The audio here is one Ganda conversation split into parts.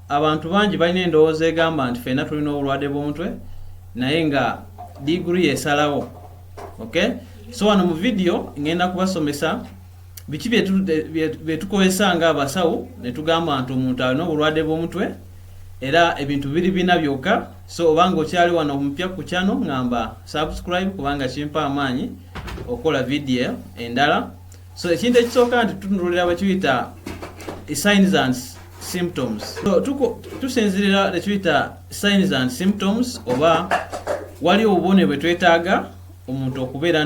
Abantu bangi balina endowooza egamba nti fena tulina obulwadde bw'omutwe naye nga diguri yesalawo okay? so wano mu vidiyo ngenda kubasomesa biki byetukozesa nga abasawo netugamba nti omuntu alina obulwadde bw'omutwe era ebintu biri bina byokka so obanga okyali wano omupya ku kyano ngamba subscribe kubanga kimpa amaanyi okukola vidiyo endala so ekintu ekisooka nti tutunulira bakiyita signs and symptoms so tusinzirira tekiyita signs and symptoms oba wali obubone bwe twetaaga omuntu okubeera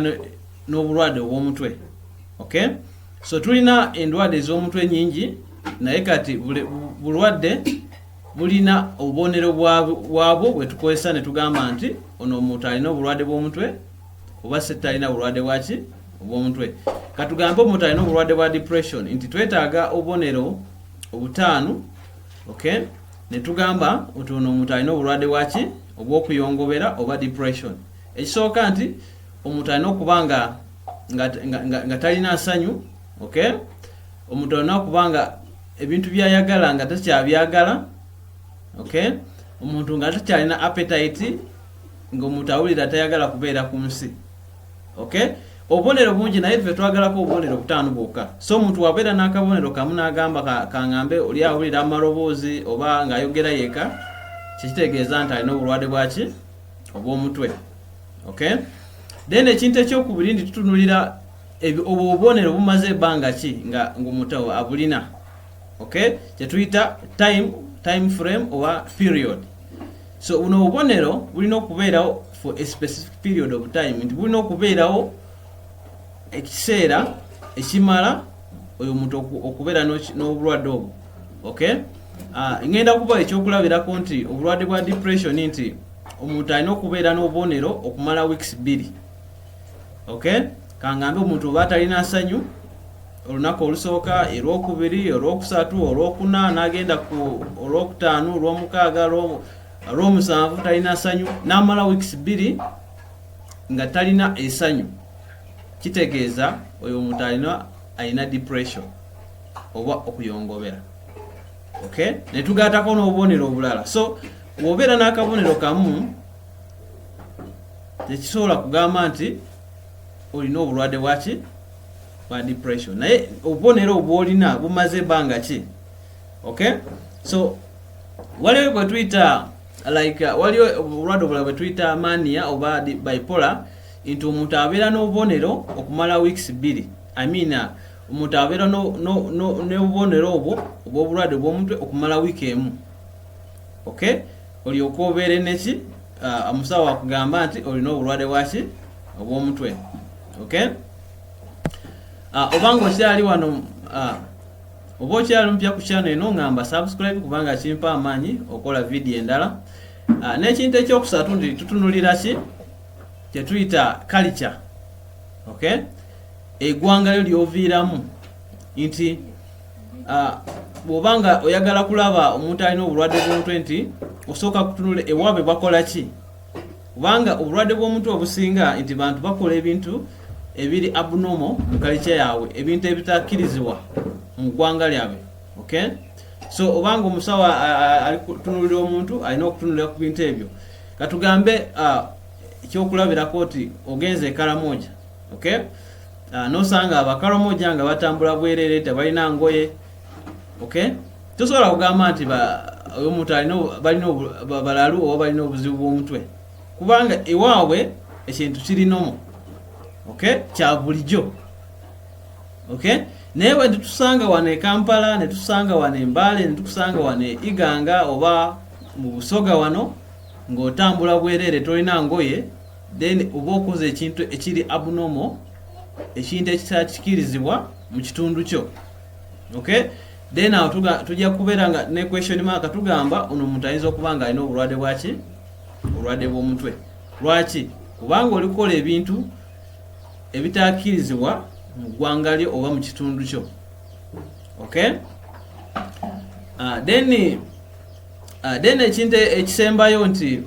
n'obulwadde obw'omutwe okay so tulina endwadde ez'omutwe nyingi naye kati bulwadde bulina obubonero bwabwo bwe tukozesa ne tugamba nti ono omuntu alina obulwadde bw'omutwe oba sitalina bulwadde bwaki obw'omutwe katugambe omuntu alina obulwadde bwa depression nti twetaaga obubonero obutaano ok netugamba nti ono omuntu alina obulwadde bwaki obwokuyongobera oba depression ekisooka nti omuntu alina okuba nga nga talina nsanyu ok omuntu alina okuba nga ebintu byayagala nga takyabyagala ok omuntu nga takyalina appetite ngaomuntu awulira tayagala kubeera ku nsi okay obubonero bungi naye ffe twagalako obubonero butaano bwokka so omuntu wabeera n'akabonero kamu n'agamba kangambe oli awulira amaloboozi oba ng'ayogera yeka kyekitegeeza nti alina obulwadde bwaki obw'omutwe okay then ekintu ekyokubiri ndi tutunulira obwo obubonero bumaze ebbanga ki nga ng'omuntu abulina okay kyetuyita time time frame oba period so buno obubonero bulina okubeerawo for a specific period of time nti bulina okubeerawo ekiseera ekimala oyo omuntu okubeera n'obulwadde obwo okay ah, ngenda kuba ekyokulabirako nti obulwadde bwa depression nti omuntu alina okubeera n'obubonero okumala weeks bbiri okay kangambe omuntu oba atalina nsanyu olunaku olusooka erwokubiri olwokusatu olwokuna nagenda ku olwokutaano olwomukaaga Olw'omusanvu talina sanyu n'amala wiikisi bbiri nga talina esanyu kitegeeza oyo omuntu alina alina depression oba okuyongobera okay netugatako n'obubonero obulala so wobeera n'akabonero kamu tekisobola kugamba nti olina obulwadde bwaki bwa depression naye obubonero obwolina bumaze ebbanga ki okay so waliwo bwetuyita like uh, waliwo obulwadde obulala bwetuyita mania oba bipola nti omuntu abeera n'obubonero okumala weeks bbiri i mean uh, omuntu abeera n'obubonero obwo obwobulwadde obwomutwe okumala wiiki emu ok olyoka obeere neki uh, omusawo wakugamba nti olina obulwadde bwaki obwomutwe ok obanga okyali wano Oba okyali mupya ku channel eno ngamba subscribe kubanga kimpa amaanyi okola video endala. Ah, n'ekintu ekyokusatu ndi tutunulira ki kye tuyita culture. Okay? Egwanga lyo lyoviiramu nti ah, bw'oba nga oyagala kulaba omuntu alina obulwadde bw'omutwe nti osooka kutunula ewaabwe bakola ki kubanga obulwadde bw'omutwe obusinga nti bantu bakola ebintu ebiri abnormal mu kalica yaabwe ebintu ebitakkirizibwa mu ggwanga lyabwe okay so obanga omusawo alikutunulira omuntu alina okutunulira ku bintu ebyo katugambe ekyokulabirako nti ogenze ekaramoja okay nosanga abakaramoja nga batambula bwerere tebalina ngoye okay tosobola kugamba nti oyo omuntu balina balalu oba balina obuzibu bw'omutwe kubanga ewaabwe ekintu kirinomu okay kya bulijjo okay naye bwe tutusanga wano e kampala ne tusanga wano embaale ne tukusanga wano e iganga oba mu busoga wano ng'otambula bwereere tolina ngoye then oba okoze ekintu ekiri abnormal ekintu ekitakikirizibwa mu kitundu kyo okay then awo tujja kubeera nga ne question mark tugamba ono omuntu ayinza okuba nga alina obulwadde bwaki obulwadde bw'omutwe lwaki kubanga olikola ebintu ebitakirizibwa mu ggwanga lyo oba mu kitundu kyo okay uh, then uh, then ekintu ekisembayo nti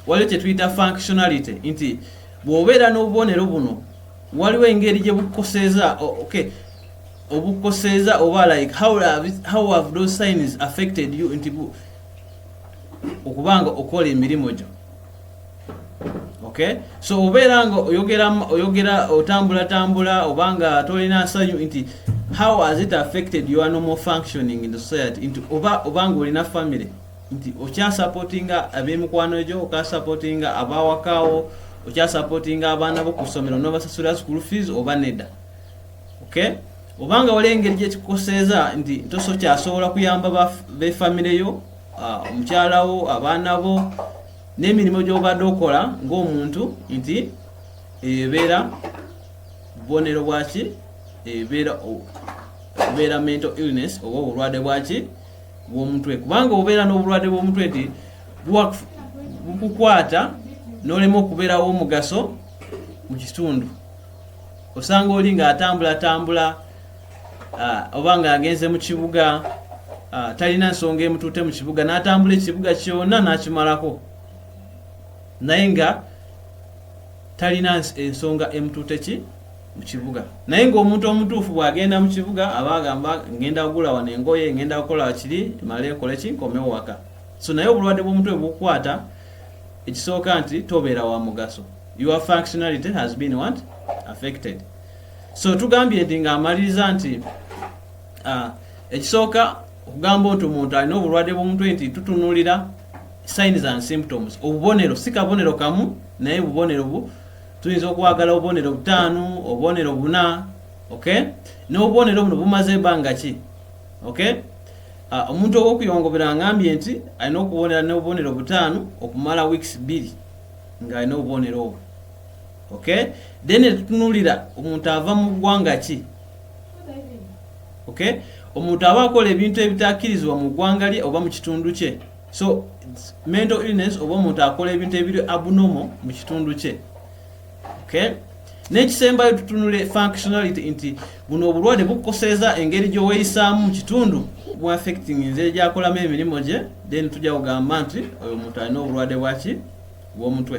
waliwo kyetuyita functionality nti bw'obeera n'obubonero buno waliwo engeri gye bukukoseeza okay obukoseza oba like how have, how have those signs affected you nti okubanga okola emirimu gyo okay so obeera nga oyogera oyogera otambula tambula obanga tolina nsanyu nti how has it affected your normal functioning in the society nti oba obanga olina family nti okyasupportinga abemikwano gyo okasupportinga abawakawo okyasupportinga abaana bo ku ssomero nobasasula school fees oba nedda okay obanga wali engeri gyekikukoseeza nti toso kyasobola kuyamba befamire yo ah, omukyala wo abaana bo n'emirimu gyobadde okola ng'omuntu nti eyo ebeera bubonero bwaki ebeera okubeera mental illness oba obulwadde bwaki bwomutwe kubanga obeera n'obulwadde bwomutwe nti bukukwata nolema okubeerawo omugaso mu kitundu osanga oli ng'atambulatambula oba ng'agenze mu kibuga talina nsonga emutuute mu kibuga n'atambula ekibuga kyonna n'akimalako naye nga talina ensonga emutuute ki mu kibuga naye ng'omuntu omutuufu bw'agenda mu kibuga aba agamba ngenda kugula wano engoye ngenda kukola kiri male nkole ki nkomewo waka so naye obulwadde bw'omutwe bukukwata ekisooka nti tobeera wa mugaso your functionality has been what affected so tugambye nti ng'amaliriza nti uh, ekisooka okugamba nti omuntu alina obulwadde bw'omutwe nti tutunulira signs and symptoms obubonero si kabonero kamu naye bubonero bu tuyinza okwagala obubonero butaano obubonero buna okay n'obubonero buno bumaze ebanga ki okay ah, omuntu owokuyongobera angambye nti alina okubonera n'obubonero butaano okumala weeks bbiri nga alina obubonero obwo okay then tutunulira omuntu ava mu ggwanga ki okay omuntu aba akola ebintu ebitakirizibwa mu ggwanga lye oba mu kitundu kye so mental illness oba omuntu akola ebintu ebiri abnormal mu kitundu kye okay N'ekisembayo tutunule functionality nti buno obulwadde bukukoseza engeri gy'oweyisaamu mu kitundu bu affecting nze gyakolamu emirimu gye then tujja kugamba nti oyo omuntu alina obulwadde bwaki bw'omutwe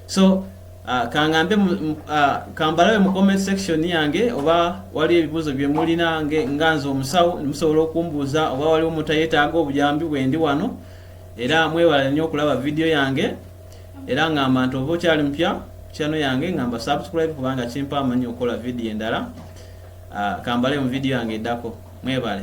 so uh, kangambe uh, kambalabe mu comment section yange oba wali ebibuuzo bye mulina nga nze omusawo musobola okumbuuza oba waliwo omuntu ayetaaga obuyambi bwendi wano era mwewala nnyo okulaba vidiyo yange era ngamba nti oba okyali mupya kyano yange ngamba subscribe kubanga kimpa amanyi okukola vidiyo endala ah, kambale mu vidiyo yange eddako mwebale